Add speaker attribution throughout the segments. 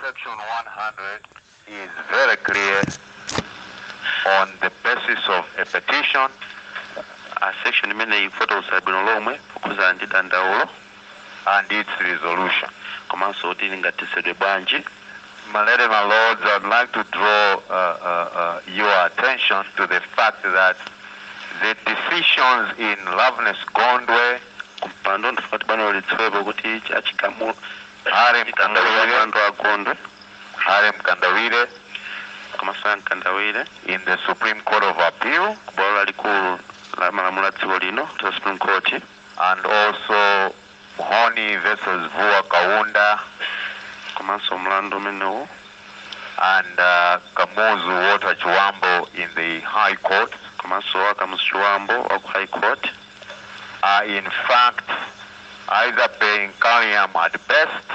Speaker 1: Section 100 is very clear on the basis of a petition. A
Speaker 2: section imeneyi ikufotokoza bwino lomwe kukhudzana ndi dandaulo and
Speaker 1: its resolution. komanso
Speaker 2: kuti lingathetsedwe bwanji My lady,
Speaker 1: my lords, I'd like to draw uh, uh, uh, your attention to the fact that the decisions in Loveness Gondwe kumpando
Speaker 2: ndifuna kuti bwalo lidziwepo kuti chigamulo
Speaker 1: Harry Mkandawire
Speaker 2: mlandu wa Gondwe
Speaker 1: Harry Mkandawire komanso
Speaker 2: ya mkandawire in the supreme
Speaker 1: court of appeal ku bwalo lalikulu
Speaker 2: la malamulo a dziko lino la supreme court and
Speaker 1: also Mhone versus Vuwa Kaunda
Speaker 2: komanso mlandu umenewu and
Speaker 1: uh, kamuzu Walter Chibambo in the high court komanso wa Kamuzu
Speaker 2: Chibambo wa ku high court
Speaker 1: are in fact either per incuriam at best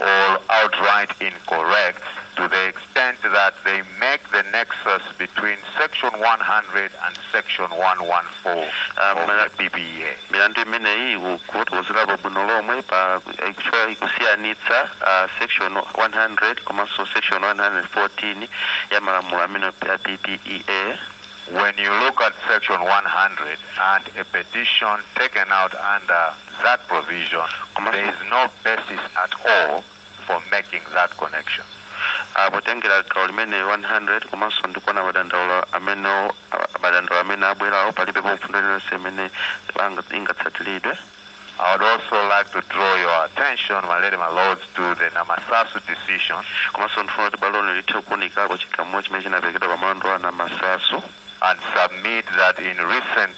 Speaker 1: or outright incorrect to the extent that they make the nexus between Section 100 and Section 114 um, of the PPEA. milandu
Speaker 2: imeneyi ikufotokozerapo bwino lomwe pa kuchita kusiyanitsa uh, section 100 komanso section 114 ya malamulo amenewa a ppea When
Speaker 1: you look at section 100 and a petition taken out under that provision, there is no basis at all for making that connection. Uh,
Speaker 2: potengera gawo limeneli 100 komanso ndikuona madandaulo amene ah, madandaulo amene abwerawo palibe mfundo iliyonse imene banga- ingatsatiridwe I would
Speaker 1: also like to draw your attention, my lady, my lords, to the Namasasu decision. komanso ndifuna kuti
Speaker 2: bwalo lino lithe kuunikako chigamulo chimene chinaperekedwa pa mlandu wa namasasu and submit
Speaker 1: that in recent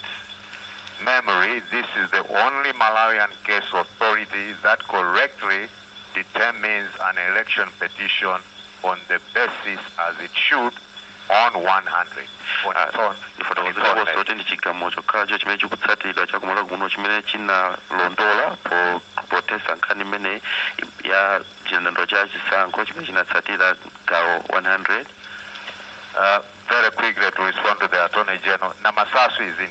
Speaker 1: memory, this is the only Malawian case authority that correctly determines an election petition on the basis as it should
Speaker 2: Ndifotokozerenso kuti ndi chigamulo chokhacho chimene chikutsatidwa cha ku Malawi kuno chimene chinalondola po- pothetsa nkhani imeneyi ya chidandaulo cha chisankho chimene chinatsatira gawo
Speaker 1: 100 Uh, very quickly to respond to the Attorney General, Namasasu is in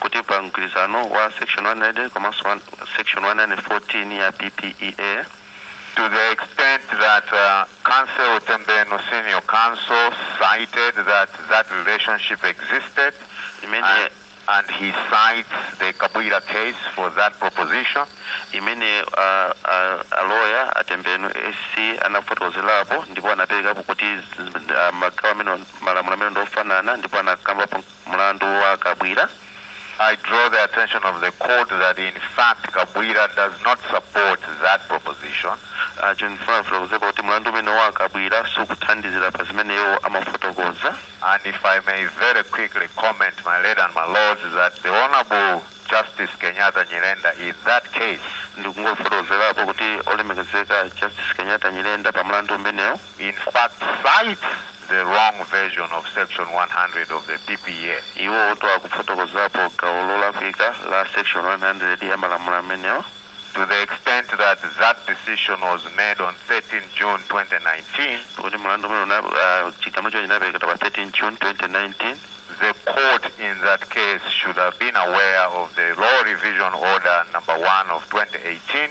Speaker 1: kuti pa mgwirizano
Speaker 2: wa section 100 komanso one- section 114 ya ppea to
Speaker 1: the extent that uh, Counsel Tembenu Senior Counsel cited that that relationship existed, imene and, and he cites the Kabwira case for that proposition. imene
Speaker 2: uh, uh, a loya a Tembenu SC anafotokozerapo ndipo anaperekapo kuti z- z- ah, magawo amenewa malamulo amenewa ndi ofanana ndipo anakambapo Mlandu wa Kabwira, I
Speaker 1: draw the attention of the court that in fact Kabwira does not support that proposition. Uh, chifukwa choti, Mlandu umene wa Kabwira sukuthandizira pa zimene iwo amafotokoza. And if I may very quickly comment, my lady and my lords, is that the Honorable Justice Kenyatta Nyirenda in that case ndikungofotokozerapo kuti olemekezeka justice kenyatta nyirenda pa mlandu umenewo in fact cites the wrong version of section 100 of the PPA. Iwo uh akufotokozapo gawo
Speaker 2: lolakwika la section 100 ya malamulo amenewa to the
Speaker 1: extent that that decision was made on 13 June 2019 kuti mlandu umene una- ah, chigamulo chinaperekedwa pa 13 june 2019 the court in that case should have been aware of the law revision order number 1 of 2018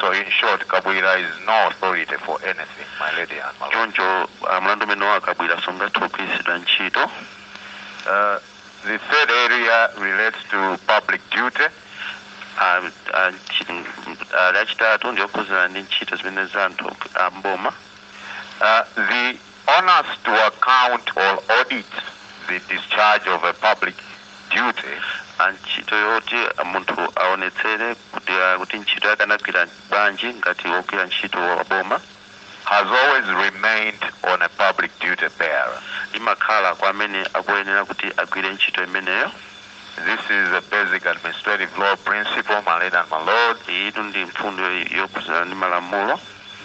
Speaker 1: So in short, Kabwira is no authority for anything, my lady and my lord. Choncho uh, mlandu umene wa Kabwira sungathe kugwiritsidwa ntchito. Uh, the third area relates to public duty. Uh, uh, uh, yachitatu ndi yokhuzana ndi ntchito zimene za anthu amboma. Uh, the Onus to account or audit the discharge of a public
Speaker 2: duty. Ah ntchito yoti munthu aonetsere kuti ah, kuti ntchito yake anagwira bwanji ngati wogwira ntchito wa boma
Speaker 1: Has always remained on a public duty bearer. imakhala kwa
Speaker 2: amene akuyenera kuti agwire ntchito imeneyo This
Speaker 1: is a basic administrative law principle, my lady and my lord, iyitu ndi
Speaker 2: mfundo yokhudzana ndi malamulo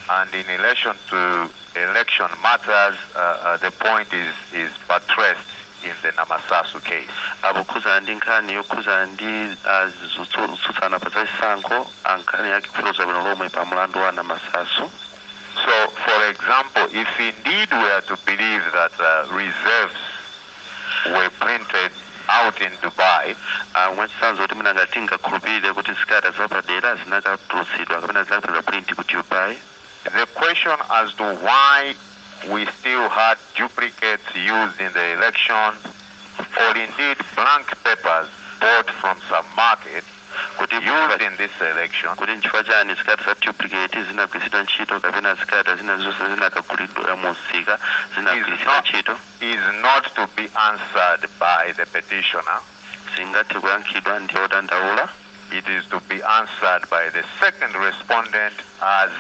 Speaker 2: and in
Speaker 1: relation to election matters, uh, uh, the point is, is buttressed in the Namasasu case. ah pokhudzana
Speaker 2: ndi nkhani yokhudzana ndi ah, zotsu- zotsutsana pa zachisankho ah, nkhani yake ikufotokozedwa bwino lomwe pa mlandu wa namasasu So,
Speaker 1: for example, if indeed we are to believe that uh, reserves were printed out in Dubai. Ah, mwachitsanzo kuti mwina ngati tingakhulupirire kuti zikalata zapadera zinakatulutsidwa kapena zinakapanga print ku Dubai. The question as to why we still had duplicates used in the election or indeed blank papers bought from some market used in this election kuti nchifukwa chani zikalata za duplicate zinagwiritsidwa ntchito kapena zikalata zina zonse zinakagulidwa mu msika zinagwiritsidwa ntchito is not to be answered by the petitioner. singathe kuyankhidwa ndi odandaula. it is to be answered by the second respondent as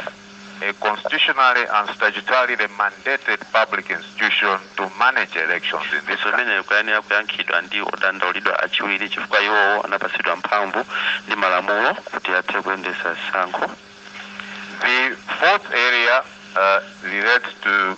Speaker 1: a constitutionally and statutorily mandated public institution to manage elections in this country funso limeneli likuyenera kuyankhidwa ndi odandaulidwa achiwiri chifukwa iwowo anapatsidwa mphamvu ndi malamulo kuti athe kuyendetsa zisankho The fourth area uh, relates to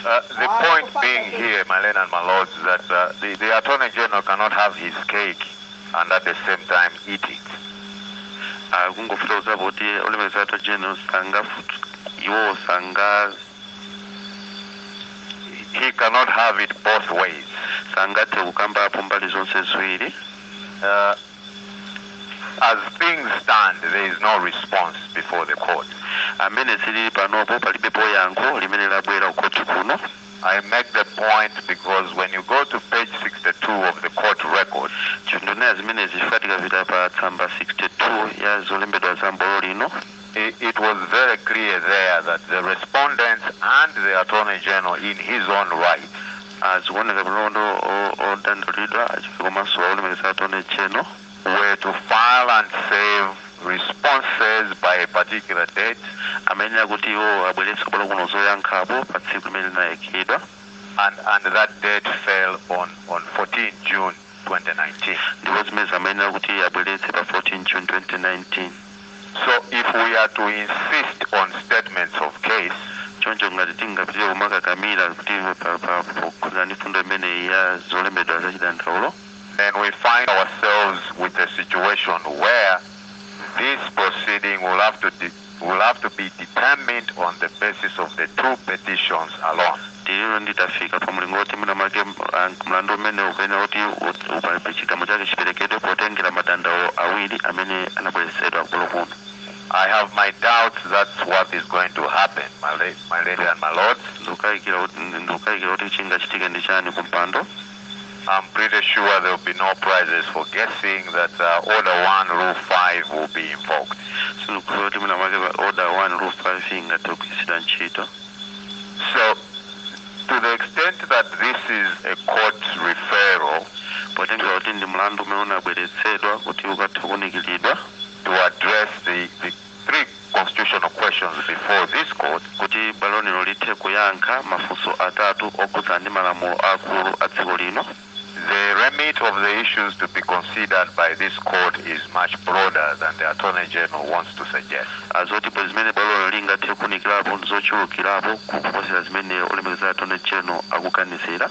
Speaker 1: Uh, the ah, point being here, my lord and my lords, that uh, the, the Attorney General cannot have his cake and at the same time eat it. Ah, kungofuna kuziva kuti olemeza attorney general sangafuti iwowo sanga he cannot have it both ways sangathe kukamba apo mbali zonse ziwiri uh, As things stand, there is no response before the court. amene zilili panopo palibepo yankho limene labwera kukhoti kuno I make the point because when you go to page 62 of the court record, ndikunena zimenezi chifukwa tikapita pa tsamba 62 ya zolembedwa za m'bwalo lino it was very clear there that the respondents and the Attorney General in his own right zikuoneka kuti odandaulidwa komanso olemekezeka Attorney General were to file and serve responses by a particular date amene akuti iwo abweretse kubwera kuno zoyankhapo pa tsiku limene linayikidwa and, and that date fell on, on 14 June 2019. Ndipo zimenezi amayenera kuti abweretse pa 14 June 2019. So if we are to insist on statements of case, choncho ngati tingapitire kumakakamira kuti pa- pa- pokhudzana ndi mfundo imeneyi ya zolembedwa za chidandaulo then we find ourselves with a situation where this proceeding will have to de- will have to be determined on the basis of the two petitions alone. Ndiye titafika pa mlingo woti mwina mwake ah, mlandu umenewu ukuyenera kuti u- upalibe chigamulo chake chiperekedwe potengera madandaulo awiri amene anabweretsedwa kubwalo kuno I have my doubts that's what is going to happen, my, la- my lady and my lords. ndikukayikira kuti- ndikukayikira kuti chingachitike ndi chani kumpando I'm pretty sure there will be no prizes for guessing that uh, order 1, rule 5 will be invoked. Zoti mwina mwake pa order 1 rule 5 ingathe kugwiritsidwa ntchito So, to the extent that this is a court referral potengera kuti ndi mlandu umene unabweretsedwa kuti ukathe kuunikiridwa to address the, the three constitutional questions before this court kuti bwalo lino lithe kuyankha mafunso atatu okhudzana ndi malamulo akulu a dziko lino The remit of the issues to be considered by this court is much broader than the Attorney General wants to suggest. ah, zoti pa zimene bwalo lino lingathe kuunikirapo ndi zochulukirapo kuposera zimene olemekezeka attorney general akuganizira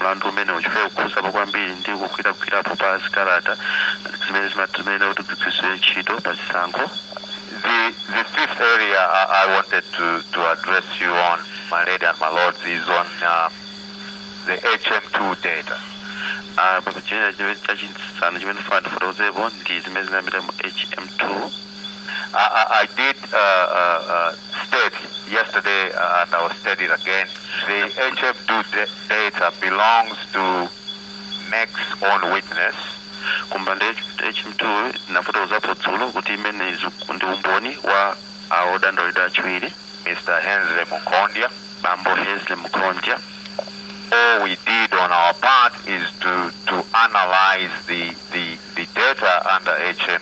Speaker 1: mlandu umenewu chifukwa ukukhudzapo kwambiri ndi kugwiragwirapo pa zikalata zimene zima- zimene kuti zigwiritsidwe ntchito pa chisankho The, the fifth area I, I wanted to, to address you on, my lady and my lords, is on uh, the HM2 data. Ah, pa china chimene chachisanu chimene ndimafuna ndifotokozepo ndi zimene zinapita mu hm2 I, I did uh, uh, uh, state yesterday, uh, and I will state it again. The HF2 da- data belongs to MEC's own witness. kumbanda hmtu nafotokozapo dzulo kuti imene izu- ndi umboni wa awodandaulidwa achiwiri Mr. Hensley Mukondia. bambo hensley mkonja All we did on our part is to, to analyze the, the, the data under HM,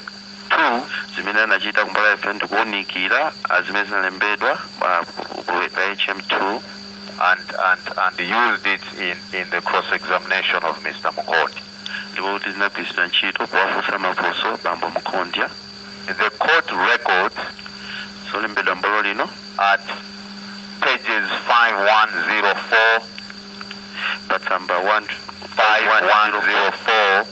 Speaker 1: 2 zimene anachita kumbali ya ife ndikuunikira ah, zimene zinalembedwa ah, ku- ku- ku- pa hm2 and, and, and used it in, in the cross-examination of Mr. Munkhondya. ndipo kuti zinagwiritsidwa ntchito powafunsa mafunso bambo Munkhondya In the court record zolembedwa m'bwalo lino at pages 5104,
Speaker 2: patsamba 1 5104,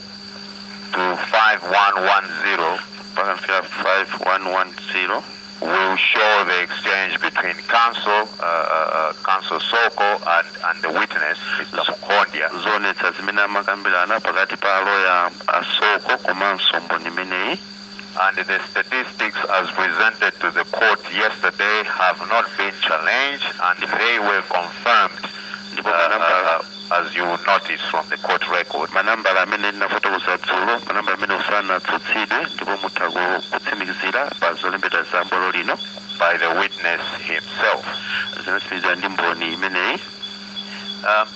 Speaker 1: to 5110 mpaka
Speaker 2: nafika 5110 will show
Speaker 1: the exchange between counsel, uh, uh, uh, counsel Soko and, and the witness, Mr. Mukondia. zoonetsa zimene amakambirana pakati pa aloya a Soko komanso mboni imeneyi and the statistics as presented to the court yesterday have not been challenged and they were confirmed ndipo uh, manambala uh, as you notice from the court record manambala amene ndinafotokoza dzulo manambala amene sanatsutsidwe ndipo mutha ku- kutsimikizira pa zolembedwa za m'bwalo lino by the witness himself zinatsimikizidwa ndi mboni imeneyi um,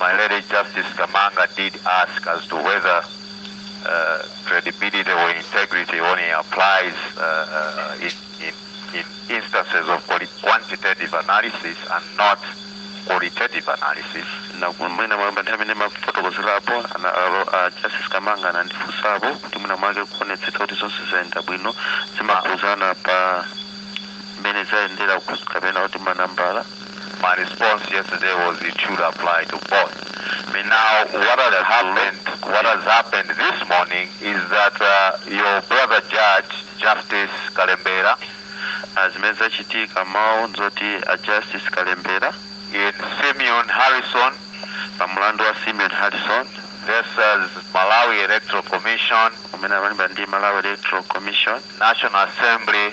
Speaker 1: My lady Justice Kamanga did ask as to whether uh, credibility or integrity only applies uh, uh, in, in, in, instances of quantitative analysis and not qualitative analysis. na mwina mwake nthawi imene ndimafotokozerapo ana- alo- a Justice Kamanga anandifunsapo kuti mwina mwake kuonetsetsa kuti zonse zayenda bwino zimakhudzana pa mmene zayendera ku- kapena kuti manambala My response yesterday was it should apply to both. I mean, now what has happened, what has happened this morning is that uh, your brother judge, Justice Kalembera, uh, zimene zachitika mawu nzoti a justice kalembera in Simeon Harrison pa mlandu wa simeon harrison versus Malawi Electoral Commission, umene amalimba ndi malawi electoral commission National Assembly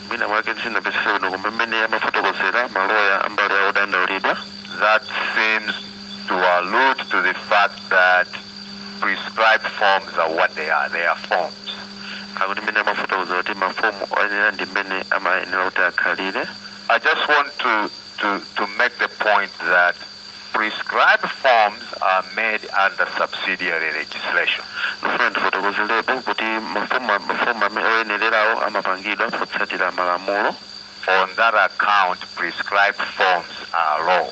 Speaker 1: Mwina mwake sindinamvetsetse bwino koma mmene amafotokozera maloya a mbali ya odandaulidwa, that seems to allude to the fact that prescribed forms are what they are, they are forms. Akuti mmene amafotokozera kuti mafomu oyenera ndi mmene amayenera kuti akhalire. I just want to, to, to make the point that prescribed forms are made under subsidiary legislation. Ndifuna ndifotokozerepo kuti mafomu a- mafomu amene oyenererawo amapangidwa potsatira malamulo On that account, prescribed forms are law.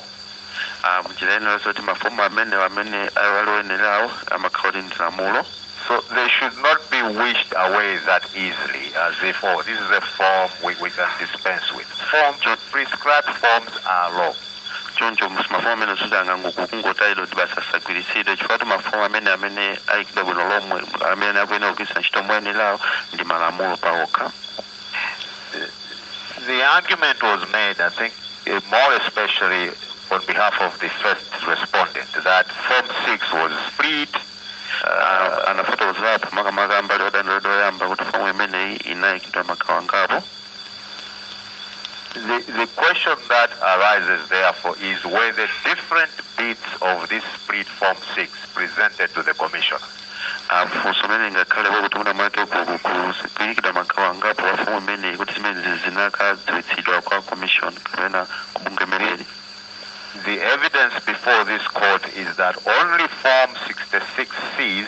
Speaker 1: Ah, mnjira ina yoti mafomu amene amene ali oyenererawo amakhala kuti ndi lamulo So they should not be wished away that easily as if, oh, this is a form we, we can dispense with. Forms, prescribed forms are law. choncho mus- mafomu amene zoti angangoku- kungotayidwa kuti basi asagwiritsidwe chifukwa mafomu amene amene ayikidwa bwino lomwe amene akuyenera kugwiritsa ntchito moyenerawo ndi malamulo pawokha The argument was made, I think, eh, more especially on behalf of the first respondent, that Form 6 was split. Ah, anafotokozerapo makamaka mbali yodandaulidwa yoyamba kuti fomu imeneyi inayikidwa magawo angapo The, the question that arises, therefore, is whether different bits of this split form 6 presented to the Commission. funso limene lingakhale pakuti mwina mwake kukukuzipilikidwa magawo angapo a fomu imeneyi kuti zimenezi zinakadziwitsidwa kwa commission kapena kubungwe limeneli The evidence before this court is that only Form 66Cs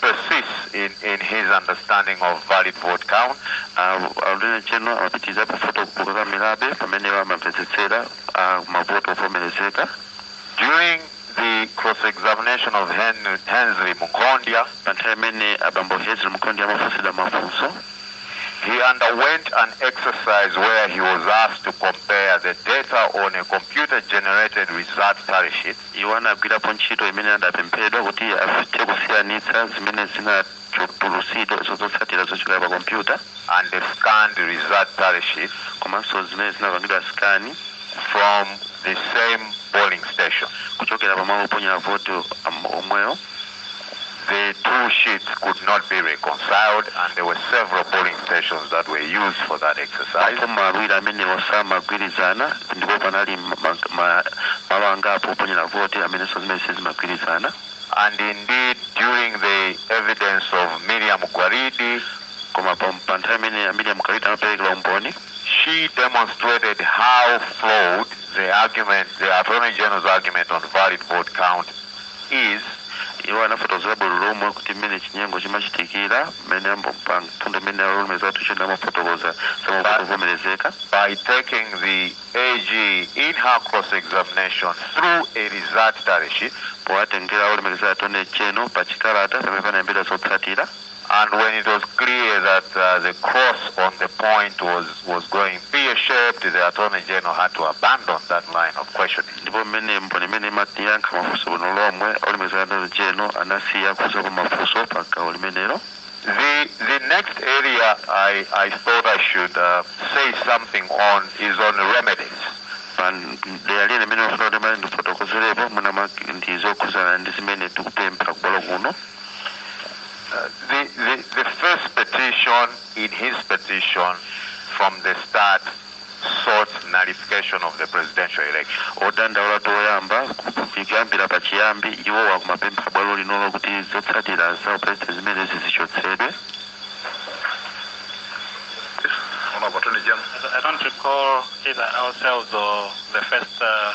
Speaker 1: persists in, in his understanding of valid vote count. Attorney General akupitiriza pa mfundo kukakamirabe pa mmene amamvetsetsera mavoti ovomerezeka. During the cross-examination of Hen- Hensley Mukondia, pa nthawi imene abambo Hensley Mukondia amafunsidwa mafunso, he underwent an exercise where he was asked to compare the data on a computer-generated result tally sheet Iwo anagwirapo ntchito imene adapemphedwa kuti athe kusiyanitsa zimene zinatulutsidwa zotsatira zochokera pa kompyuta. and scanned result tally sheets. komanso zimene zinapangidwa scan. from the same polling station. kuchokera pa malo oponyera voti omwewo. the two sheets could not be reconciled and there were several polling stations that were used for that exercise. mafomu awiri amenewo samagwirizana ndipo panali ma- ma- ma- malo angapo oponyera voti amenenso zimene sizimagwirizana And indeed, during the evidence of Miriam Gwalidi, koma pa pa nthawi imene a Miriam Gwalidi amaperekera umboni she demonstrated how flawed the argument, the Attorney General's argument on valid vote count is. Iwo anafotokozera bwino lomwe kuti mmene chinyengo chimachitikira, mmene pa mfundo imene olemekezeka Attorney General amafotokoza za mavoti ovomerezeka. by taking the AG in her cross examination through a result tally sheet. powatengera olemekezeka Attorney General pa chikalata pamene panalembedwa zotsatira. And when it was clear that uh, the cross on the point was, was going pear-shaped, the Attorney General had to abandon that line of questioning. ndipo mmene mboni imeneyi imayankha mafunso bwino lomwe olemekezeka Attorney General anasiya kufunsapo mafunso pa gawo limenelo The, the next area I, I thought I should uh, say something on is on remedies. pa dera lina limene ndimafuna kuti mwina ndifotokozerepo mwina mwake ndi zokhudzana ndi zimene tikupempha kubwalo kuno Uh, the, the, the first petition in his petition from the start sought nullification of the presidential election. odandaula oyamba kuyambira pa chiyambi iwo akumapempha bwalo lino kuti zotsatira za
Speaker 3: upulezidenti zimenezi zichotsedwe Honorable Attorney General. I don't recall either ourselves or the first uh,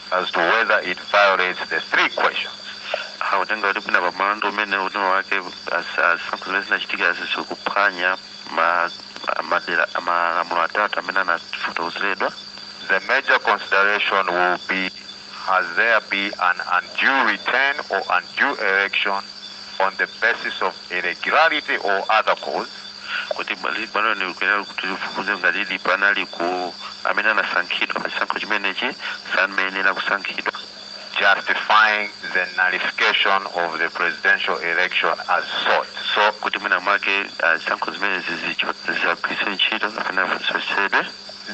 Speaker 1: as to whether it violates the three questions. akutenga kuti mwina pa mlandu umene uno mwina mwake zisankho zimene zinachitika zizikuphwanya ma- ma- madera malamulo atatu amene anafotokozeredwa The major consideration will be has there been an undue return or undue election on the basis of irregularity or other cause kuti bwali- bwalo likuyenera kuti lifufuze ngati didi panali kuti amene anasankhidwa pa chisankho chimenechi sanayenera kusankhidwa justifying the nullification of the presidential election as sought. So, kuti mwina mwake uh, zisankho zimenezi zicho- zisagwiritsidwe ntchito kapena zichotsedwe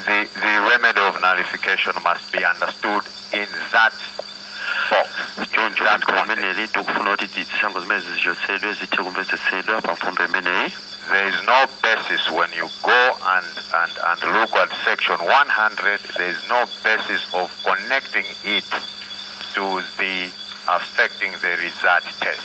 Speaker 1: the, the remedy of nullification must be understood in that 4 choncho box. fundo limeneli tikufuna kuti ti- zisankho zimenezi zichotsedwe zithe kumvetsetsedwa pa mfundo imeneyi There is no basis when you go and, and, and look at section 100, there is no basis of connecting it to the affecting the result test.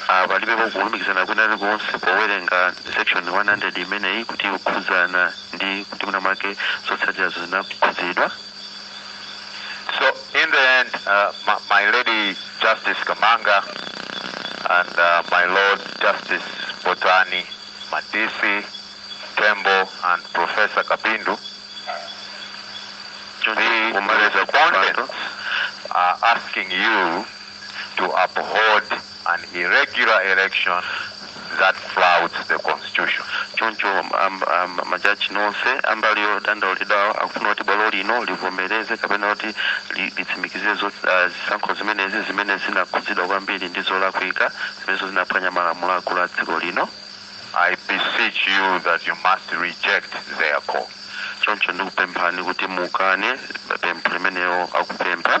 Speaker 1: Ah, palibepo kulumikizana kwina kulikonse powerenga section 100 imeneyi kuti ikukhudzana ndi kuti mwina mwake zotsatirazo zinakhudzidwa So in the end, uh, my, my lady Justice Kamanga and uh, my lord Justice Botani Madisi Tembo and Professor Kapindu Chonde kumaliza kwa mpando are asking you to uphold an irregular election that flouts the constitution. Choncho ma judge onse ambali yodandaulidwawo akufuna kuti bwalo lino livomereze kapena kuti litsimikizire zisankho zimenezi zimene zinakhudzidwa kwambiri ndi zolakwika zimenezo zinaphwanya malamulo akulu a dziko lino. I beseech you that you must reject their call. Choncho ndikupemphani kuti mukane pempho limenelo akupempha.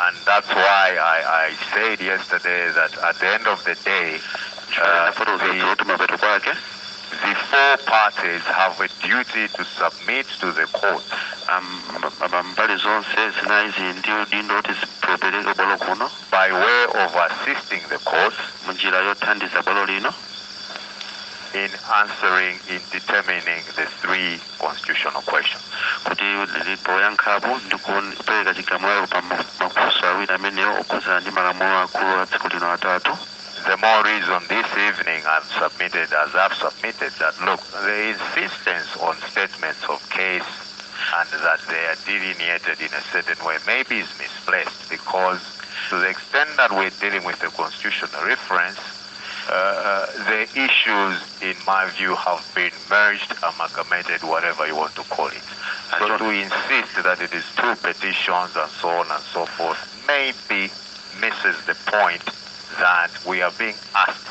Speaker 1: And that's why I, I said yesterday that at the end of the day, uh, the, the four parties have a duty to submit to the court. mbali zonse zinayi zili ndi udindo kuti zipereke ku bwalo kuno by way of assisting the court mu njira yothandiza bwalo lino in answering in determining the three constitutional questions kuti lili poyankhapo ndi kupereka chigamulo pa ma- mafunso awiri amenewo okhudzana ndi malamulo akulu a dziko lino atatu The more reason this evening I've submitted, as I've submitted, that look, the insistence on statements of case and that they are delineated in a certain way maybe is misplaced because to the extent that we're dealing with a constitutional reference, the issues, in my view, have been merged, amalgamated, whatever you want to call it. And so to insist that it is two petitions and so on and so forth maybe misses the point that we are being asked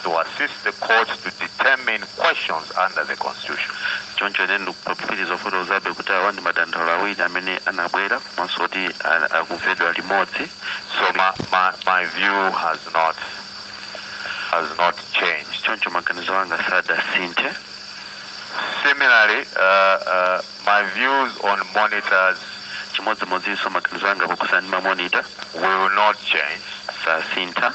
Speaker 1: to assist the courts to determine questions under the constitution. choncho ine ndikupapitiriza kufotokozabe kuti awa ndi madandaulo awiri amene anabwera komanso kuti a- akumvedwa limodzi So my, my, my view has not has not changed. choncho maganizo anga sadasinthe Similarly, uh, uh, my views on monitors chimodzimodzinso maganizo anga pokhudzana ndi mamonita will not change. sasintha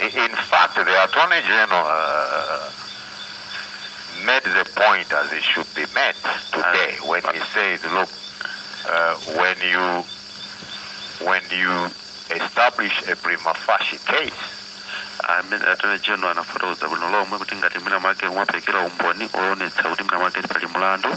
Speaker 1: In fact, the Attorney General uh, made the point as it should be made today uh, when he said, look, uh, when you when you establish a prima facie case, amene Attorney General anafotokoza bwino lomwe kuti ngati mwina mwake mwapereka umboni oonetsa kuti mwina mwake pali mlandu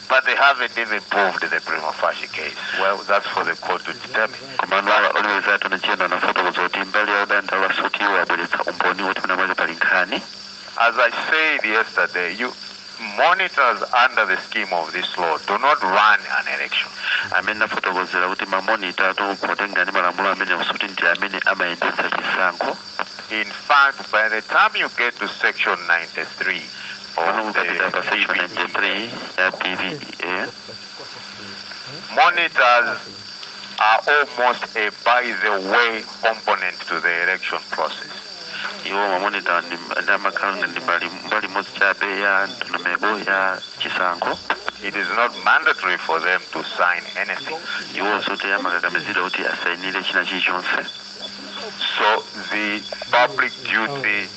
Speaker 1: But they haven't even proved the prima facie case. Well, that's for the court to determine. komano olemekezeka Attorney General anafotokoza kuti mbali ya odandaula sikuti iwo abweretsa umboni woti mwina mwake pali nkhani As I said yesterday, monitors under the scheme of this law do not run an election. mmene ndinafotokozera kuti mamonita potengera ndi malamulo amenewa sikuti ndi amene amayendetsa chisankho In fact, by the time you get to section 93 of the PPEA, monitors are almost a by the way component to the election process. iwo mamonita ndi- ndi amakhala ngati mbali mbali imodzi chabe ya ndondomeko ya chisankho It is not mandatory for them to sign anything. iwo sikuti amakakamizidwa kuti asayinire china chilichonse So the public duty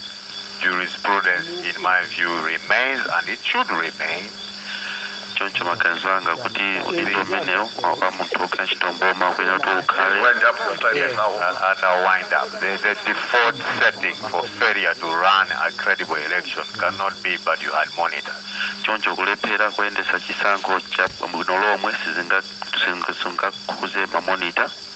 Speaker 1: jurisprudence, in my view, remains and it should remain. choncho maganizo anga kuti udindo umenewu wa munthu wogwira ntchito mboma kuyenera kuti ukhale Wind up your time Yes, now. and, and I'll wind up. The, the default setting for failure to run a credible election cannot be, but you had monitors. choncho kulephera kuyendetsa chisankho cha bwino lomwe sizinga- sizinga- sizingakhuze mamonita